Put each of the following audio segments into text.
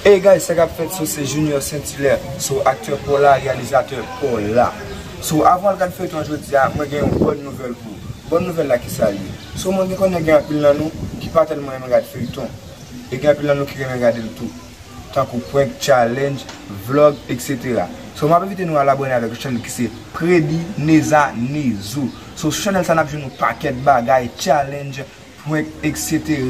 Hey guys sa kap fèt sou se Junior Saint Hilaire sou aktè Paula reyalizatè Paula sou avan al gad feyton an jodia mwen gen yon bòn nouvèl pou ou bòn nouvèl la kisa l ye sou mwen gen konnen gen anpil nan nou ki pa tèlman renmen gad feyton e gen anpil nan nou ki renmen gade l tou tankou prank challenge vlog etc sou map envite nou al abòne avèk yon chanèl ki se Predy Neza Nezou sou chanèl sa nap jwenn yon pakèt bagay challenge prank etc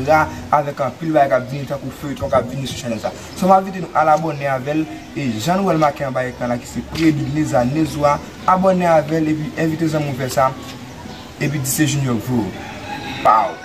avèk anpil bagay kap vini tankou feyton kap vini sou chanèl sa so m envite nou al abòne avèl e jan nou wèl make anba ekran la ki se Preebid Leza Nezwa abòne avèl epi envite zanmiw fè sa epi di se Junior k voye w paww.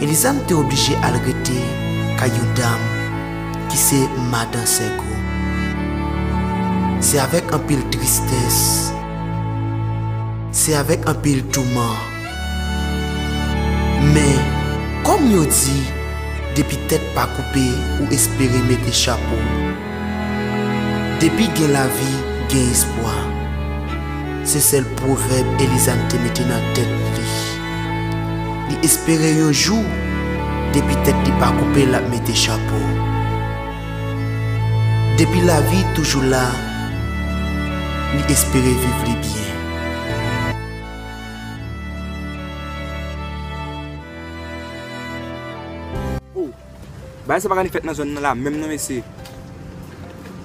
Elizam te oblije al rete kay yon dam ki se madan Sègo. Se avèk anpil tristès, se avèk anpil touman. Men, kòm yo di, depi tèt pa koupe ou espere mete chapo. Depi gen lavi, gen espwa. Se sèl pwovèb Elizam te mete nan tèt li. Li espere yon jou depi tèt li pa koupe lap mete chapo. Depi lavi toujou la li espere viv li byen. Bagay sa paka ni fèt nan zòn nan la menm non mesye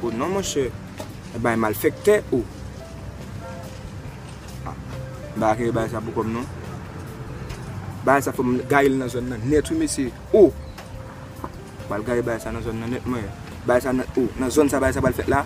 oh non monchè e bagay malfèktè oh ah m paka kenbe bagay sa pou kòm non bagay sa fòm gaye l nan zòn nan nèt wi mesye oh m pral gaye bagay sa nan zòn nan nèt mwen bagay sa nan oh nan zòn sa bagay sa pral fèt la.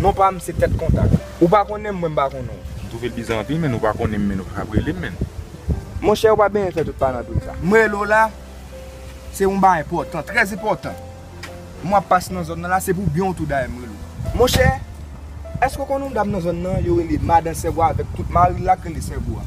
Non pa m se Tèt Kontak. Ou pa konnen m, mwen m pa konnen w. M twouve l biza anpil menn, ou pa konnen m menn ou pa ap rele m menn. Monchè ou pa benyen fè tout palandri sa. M rele w la, se yon bagay enpòtan, trè enpòtan. M wè w ap pase nan zòn nan la, se pou byen w tou dayè m rele w. Monchè, èske w konnen yon dam nan zòn nan yo rele Madan Sèvo avèk tout mari l la k rele Sèvo a?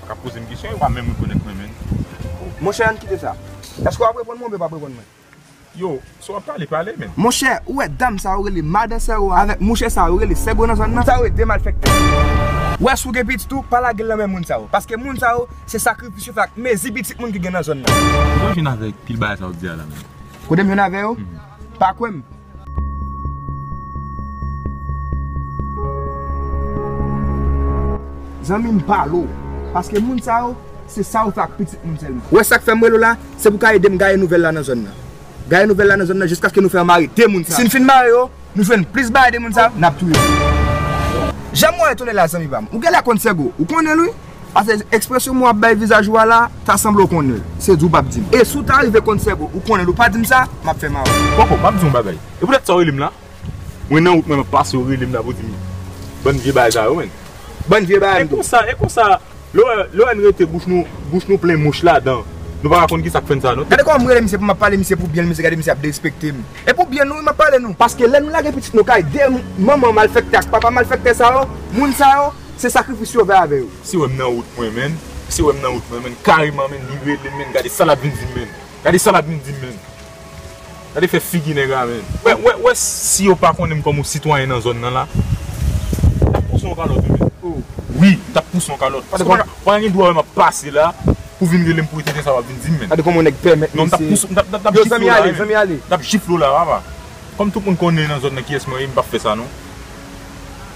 Kap pozem kesyon yo pa menm rekonèt mwen menn. Monchè ann kite sa. Eske wap reponn mwen oubyen pap reponn mwen? Yo, si wap pale, pale menn. Monchè, ou wè dam sa yo rele madan sè ou a avèk mouche sa yo rele sègo nan zòn nan? Sa yo e de malfèktè. Ou wè si ou gen pitit ou, pa lagel nan men moun sa yo. Paske moun sa yo, se sakrifis yo fè ak mezi pitit moun ki gen nan zòn nan. Kote ou jwenn avèk pil bagay sa ou di a la menm? Kotem jwenn avè yo? Pa kwèm? Zanmim pale w. Paske moun sa yo se sa yo fè ak pitit moun sèlman. Wè sak fèm rele w la, se pou ka edem gaye nouvèl la nan zòn nan. Gaye nouvèl la nan zòn nan jiskaske nou fè yo mare 2 moun sa yo. Sin fin mare yo, nou jwenn plis bagay de moun sa yo, nap touye yo. Janm wè yo tonè la zanmi pam. Ou genlè konn Sègo, ou konnenl wi. Pase ekspresyon mwen ap bay vizaj ou a la, ta sanble ou konnen l. Se di ou pap di m. E si ou ta rive konn Sèbo, ou konnen l, ou pa di m sa, m ap fè mal. Boko, m ap di w yon bagay. E poutèt sa ou rele m la? Mwen nan wout mwen m ap pase ou rele m la pou w di m bann vye bagay sa yo menn. Bann vye bagay m di w. E konsa, e konsa, lè w wè n rete bouch nou, bouch nou plen mouch ladan, nou pa ka konn kisa k fè n sa non. Gade kòman m rele misye pou m ap pale misye pou byen l, misye gade misye ap derespekte m. E pou byen nou wi m ap pale nou. Paske lè nou lage pitit nou kay dèyè manman malfèktè ak papa malfèktè sa yo, moun sa yo, Se sakrifis yo fè avè yo. Si wèm nan wout mwen menn. Si wèm nan wout mwen menn kareman menn li relem menn gade sa lap vin dim menn gade sa lap vin dim menn gade fè figi nèg la menn wè wè wè si yo pa konnenm kòm yon sitwayen nan zòn nan la tap pouse yon kalòt wi menn wi tap pouse yon kalòt paske ou pa gen dwa wèm ap pase la pou vin relem pou etènte sa wap vin dim menn gade kòman yon nèg pèmèt non mtap pouse mtap mtap yo zanmi ale zanmi ale mtap jifle w la papa kòm tout moun konnen nan zòn nan kiyès mwen ye mpap fè sa non.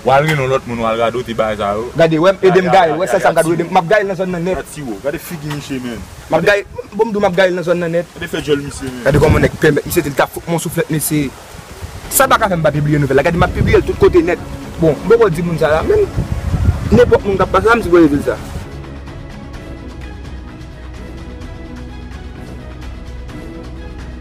Wal rele yon lot moun wal radote bagay sa yo. Gade wèm edem gayel wè sèl sam gad edem map gayel nan zòn nan nèt. Gad tiwo gade figi misye menn. Map gayel bon mdou map gayel nan zòn nan nèt. Gade fè djòl misye menn. Gade kòman nèg pè mèt misye dil tap fout mwen yon souflèt mesye. Sa paka fèm pa pibliye nouvèl la gade map pibliyel tout kote nèt. Bon mpoko di moun sa la menm nenpòt moun kap pase la msipoze dil sa.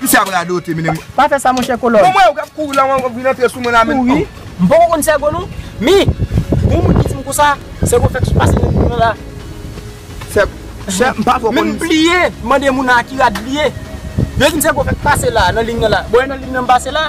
Ki sa ap radote mennenm. Pa fè sa monchè kolòn. Bon m wè ou kap kouri la ou vin antre sou mwen la menm oh. M poko konn sègo non men bon moun ki di m konsa sègo fèk sou pase nan mwen la. Sègo m pa fò konn. M bliye mande moun nan a ki rad li ye. Yo di m sègo fèk pase la nan liy nan la. Bon e nan liy nan m pase la.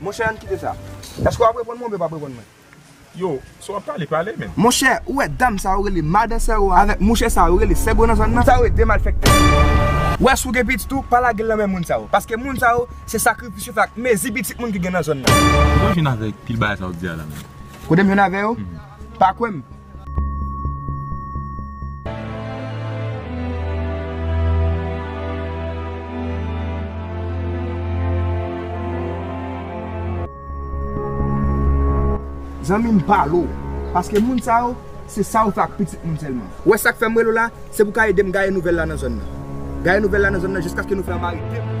Monchè ann kite sa. Eske wap reponn mwen oubyen pap reponn mwen? Yo, si wap pale, pale menn. Monchè, ou wè dam sa yo rele madan sè ou a avèk mouche sa yo rele sègo nan zòn nan? Sa yo e de malfèktè. Ou wè si ou gen pitit ou, pa lage l nan men moun sa yo. Paske moun sa yo, se sakrifis yo fè ak mezi pitit moun ki gen nan zòn nan. Kote w jwenn avèk pil bagay sa w di a la menm? Kote m jwenn avè yo? Pa kwè m. Zanmi m pale w. Paske moun sa yo, se sa yo fè ak pitit moun sèlman. Ou wè sa k fè m rele w la? Se pou w ka ede m gaye nouvèl la nan zòn nan. Gaye nouvèl la nan zòn nan jiskaske nou fè anba rete m.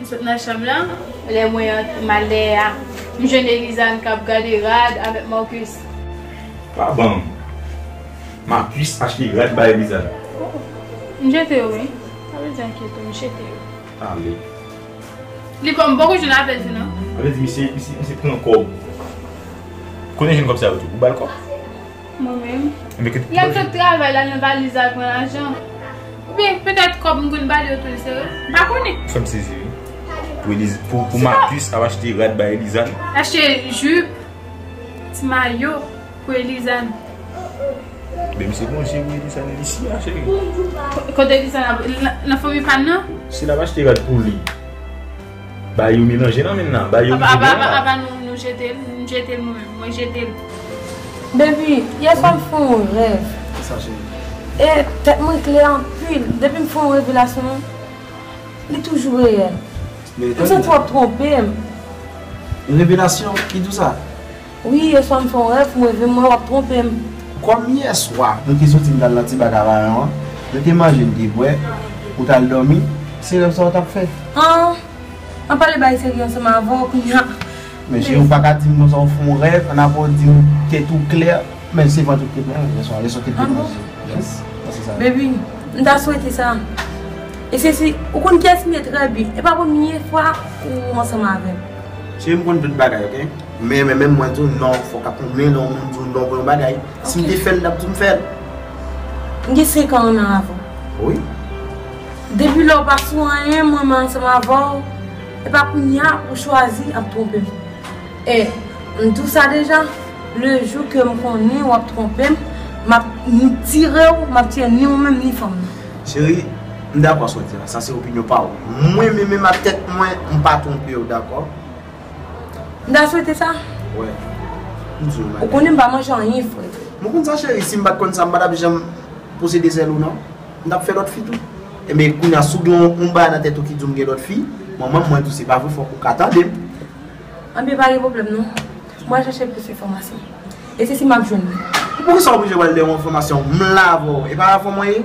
M sot nan chanm lan, lè mwen antre malè a, m jwenn Elizàn k ap gade rad avèk Marcus. Pa ban m. Marcus achte rad bay Elizàn. M jete yo wi. Sa vle di ankyete yo, m jete yo. Ale. Li pran m poko jwenn apèl tou non. Sa vle di misye pran kòb. Konnen jwenn kòb sa yo tou. Ou ba l kòb? Mwen menm. Lè tout travay la nan valiz la pran lajan. Oubyen petèt kòb m konn bali yo tou l sere. M pa konnen. Fè m sezi wi. Pou Eliza, pou Marcus ap achte rad bay Eliza n. Achte jupe, ti mayo pou Eliza n. Ben misye gon je pou Eliza n isi a cheri. Kote Eliza n ap, nan fanmi pa n nan? Si l ap achte rad pou li. Ba yo melanje nan menm nan. Ba yo manje menm nan. Apa nou jete l? M jete l mwen menm. Mwen jete l. Baby, yè swa m fè yon rèv. Kisa cheri? E tèt mwen klè anpil. Depi m fè yon revelasyon, li toujou reyèl. M santi w ap twonpe m. Revelasyon? Ki di w sa? Wi yeswa m fè yon rèv m reve m wè wap twonpe m. Kòm yèswa nou te soti nou t al nan ti bak a vayan an, nou te manje nou te bwè, ou t al dòmi, se rèv sa ou t ap fè? An, an pale bay serye ansanm avè w kounya a. Men cheri ou pa ka di m konsa ou fè yon rèv an apre ou di m tèt ou klè men se vant ou k te plen yèswa, yèswa ou te plen manje. Yes, mwen se sa. Baby, m ta swete sa. E se si, ou konn kiyès m ye trè byen e pa premye fwa ou ansanm avè m. Cheri m konn tout bagay ok. Men men men mwen diw non fok ap moun men non moun diw non pou yon bagay sim te fel lap dim fel. M gen 5 an anm avw. Wi. Depi lè ou pa sou anyen mwen menm ansanm avèw epa kounya ou chwazi ap twonpem e m diw sa deja le jou ke m konnen wap twonpem map tirew map tire ni ou menm ni fanm nan. Cheri m dakò sa w di la sa se opinyon paw mwen men menm ak tèt mwen m pa twonpew dakò. M ta swete sa. Wè. M di w bagay. Ou konnen m pa manje anyen fre. M konn sa cheri, si m pat konn sa m pa tap janm posede zèl ou non. M tap fè lòt fi tou. Enben kounya si w gen yon bagay nan tèt ou ki di w m gen lòt fi, manman m mwen tou se pa vre fòk ou ka tande m. Anben pa gen pwoblèm non. M pral chache plis enfòmasyon. E se si m ap jwenn li? Poukisa w oblije wè l lè yon enfòmasyon? M la avè w. E pa avè w mwen ye?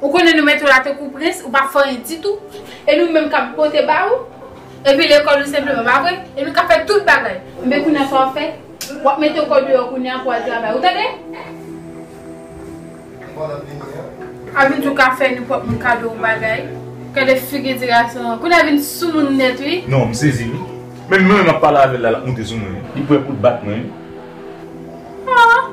Ou konnen nou mete w la tankou prens, ou pa fè anyen ditou, e nou menm k ap pote ba ou, epi lekòl ou senpleman, pa vre? E nou k ap fè tout bagay. Enben kounye a sa w ap fè? W ap mete kò w deyò kounye a pou w al travay, ou tande? A vin tou ka fè nou pwòp nou kado ou bagay. Gade figi ti gason an. Kounye a vin soumoun nèt wi. Non, m sezi wi. Menm jan m ap pale avè l la, l ap moute sou mwen wi. Li prè pou l bat mwen wi. An!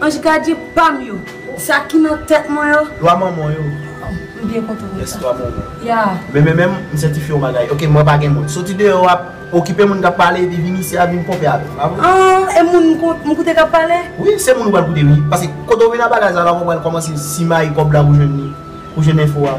Anj gadyen pam yo. Sa ki nan tèt mwen yo. Lwa manman yo. M byen kontan pou sa. Yes lwa manman. Yeah. Men men menm m sètifye yon bagay. Ok mwen pa gen moun. Soti deyò ap okipe moun kap pale epi vini isi a vin ponpe avè m. Bravo. Ahh e moun m koute kap pale? Wi se moun ou pral koute wi. Paske kote ou vin ap pale a sa la ou pral kòmanse simaye kòb la pou jwenn li. Pou jwenn enfo a.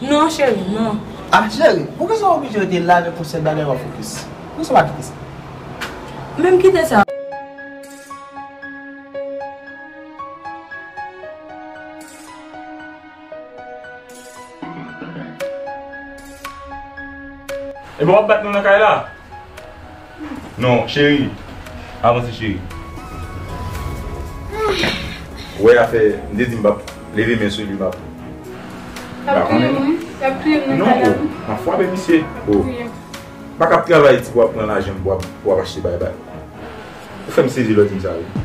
Non cheri, non. Ah cheri, poukisa ou oblije rete la avèk yon sèl bagay wap fokis? Poukisa ou pa kite sa? Men m kite sa. Ebyen wap bat nou nan kay la? Non cheri avanse cheri. Wè afè m te di m pap leve men sou li map. Lap touye m wi lap touye m nan kay la wi. Map fwape misye. Bak ap travay ti pou wap pran lajan pou wap achte bay bay. Ou fèm sezi lè w di m sa wi.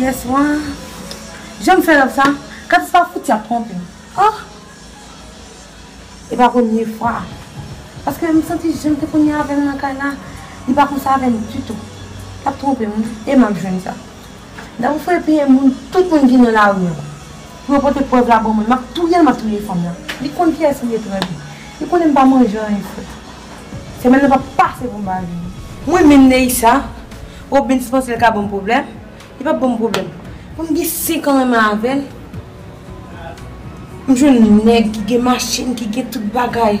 Yèswa, jan m fè love sa, Katis pa fouti ap twonpe m. Oh! E pa premye fwa. Paske m santi jan m te konn ye avè l nan kay la, li pa konsa avè m ditou. L ap twonpe m wi e m ap jwenn sa. Lè ou fè piye moun, tout moun ki nan lari an, pou yo pote prèv la ban mwen, m ap touye l, m ap touye fanm nan. Li konn kiyès li ye trè byen. Li konnen m pa manje anyen fre. Semèn nan p ap pase pou m pa vini. Mwen menm Neïcha, Robens panse l ka ban m pwoblèm, li p ap ban m pwoblèm. Mwen m gen senk an renmen avè l, m jwenn nèg ki gen machin, ki gen tout bagay.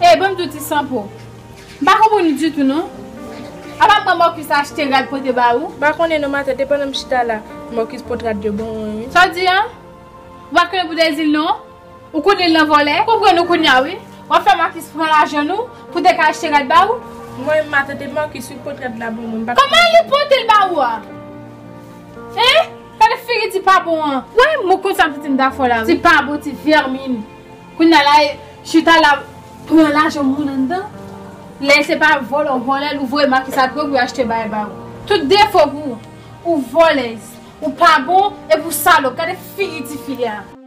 Hey banm di w ti sanpo, m pa konprann ou ditou non, apa pran Marcus achte rad pote ba ou? M pa konnen non matante pandan m chita la Marcus pot rad yo ban mwen wi. Sa w di an? Ou pa t konnen pou Dezil non? Ou konnen lan vòlè. Konprann ou kounya wi. Wap fè Marcus pran lajan nou pou te ka achte rad ba ou. Mwen menm ma tante Marcus wi pot rad la bon mwen mpa Koman li potel ba ou a hein gade figi ti pa bon an. Wè mou konsa pitit m ta fò la wi. Ti pa bon ti vèmin. Kounya la e chita la pran lajan moun anndan. Lè se pa vòlè ou vòlè ou voye Marcus a dwòg li achte bay ba ou. Tout defo pou ou. Ou vòlèz. Ou pa bon epi ou salop gade figi ti fi a.